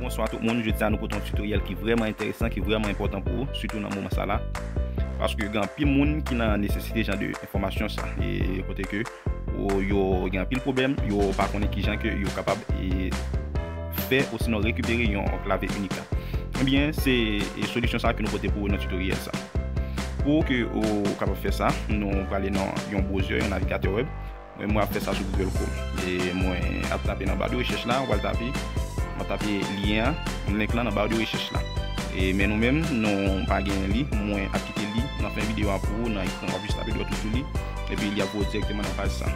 Bonswa tout moun, jodi a nou pote yon tutoriel ki vreman enteresan, ki vreman enpotan pou ou, sitou nan moman sa la. Paske gen anpil moun ki nan nesesite jan de enfomasyon sa. E pote ke yo gen anpil problem, yo pa konen ki jan ke yo kapab e fè ou sinon rekupere yon klave unik la. Ebyen, se solisyon sa ke nou pote pou ou nan tutoriel sa. Pou ke ou kapab fè sa, nou prale nan yon browser, yon navigateur web. Mwen mwen ap fè sa sou Google Chrome. E mwen ap tape nan bar de recherche la, wal tape, wap tape lien an, link lan nan bar de recherche la. E men nou menm nou pa genyen li, mwen ap kite li nan fen video an pou ou nan ekran, wap jis tape dwèt ou sou li, epi li ap voye w direkteman nan paj sa.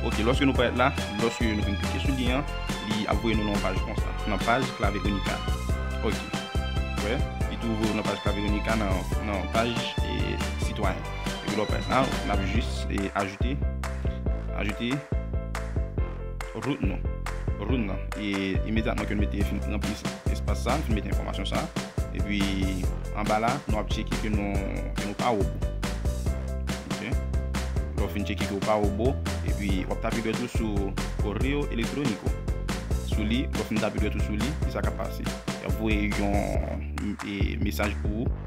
Ok, lòske nou parèt la, lòske nou fin klike sou lien an, li ap voye nou nan yon paj konsa, nan paj Clave Unica. Ok, wè, li tou voye w nan paj Clave Unica nan paj Citoyen. Epi lò pèt la, n ap jis ajoute, ajoute rout nou. Rout nan. E imedyatman ke nou mete fin ranpli espas sa, fin mete enfòmasyon sa. Epi anba la, nou ap cheke ke nou pa wobo. Ok. Lò fin cheke ke ou pa wobo, epi w ap tape dwèt ou sou correo electronico. Sou li, lò fin tape dwèt ou sou li, kisa k ap pase? Y ap voye yon mesaj pou ou.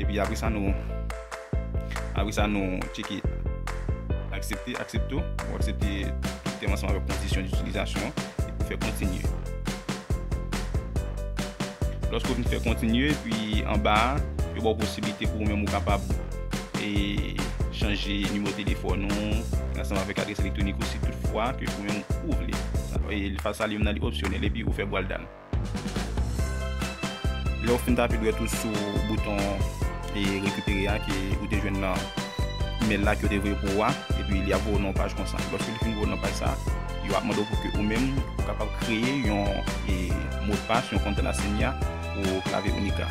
Epi apre sa nou apre sa nou tcheke aksepte aksepte ou pou aksepte tèm ansanm avèk kondisyon di utilizasyon epi pou fè kontinye. Lòske ou vin fè kontinye epi anba yo ba ou posibilite pou ou menm ou kapab e chanje nimewo telefòn ou ansanm avèk adres elektwonik ou si tout fwa ke ou menm ou vle. Fasa li menm nan li opsyonèl epi ou fè bwal dan. Lè ou fin tape dwèt ou sou bouton e rekipere a ke ou te jwenn nan email la ke yo te voye pou ou a, epi li ap voye ou nan yon paj konsa. Lòske li fin voye ou nan paj sa, yo ap mande ou pou ke ou menm ou kapab kreye yon e modpas, yon konte la Senya pou klave unik la.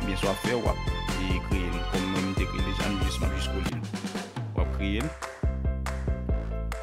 Ebyen sa wap fè, wap e kreye l. Kòm mwen m te kreye l deja, m jis map jis kole l. Wap kreye l.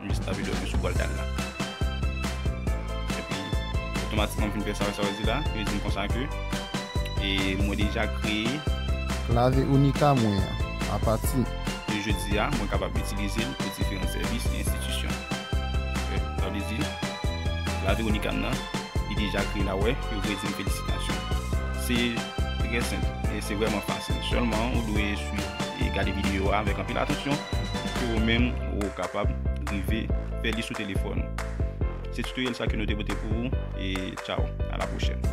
M jis tape dwèt mwen sou bòl dal la. Epi, otomatikman m fin fè sa sa yo di la. Yo di m konsa ke e mwen deja kreye. Klave Unica mwen an. Apati. De jodi a, mwen kapab itilize l pou diferan sèvis e enstitisyon. Fè, sa vle di, klave Unica m nan, li deja kreye la. Wè, yo vle di m felisitasyon. Se trè senp e se vrèman fasil. Sèlman, ou dwe swiv e gade videyo a avèk anpil atansyon pou ke ou menm. pou ou kapab rive fè li sou telefòn ou. Se tutoriel sa ke nou te pote pou ou e tchao a la prochèn.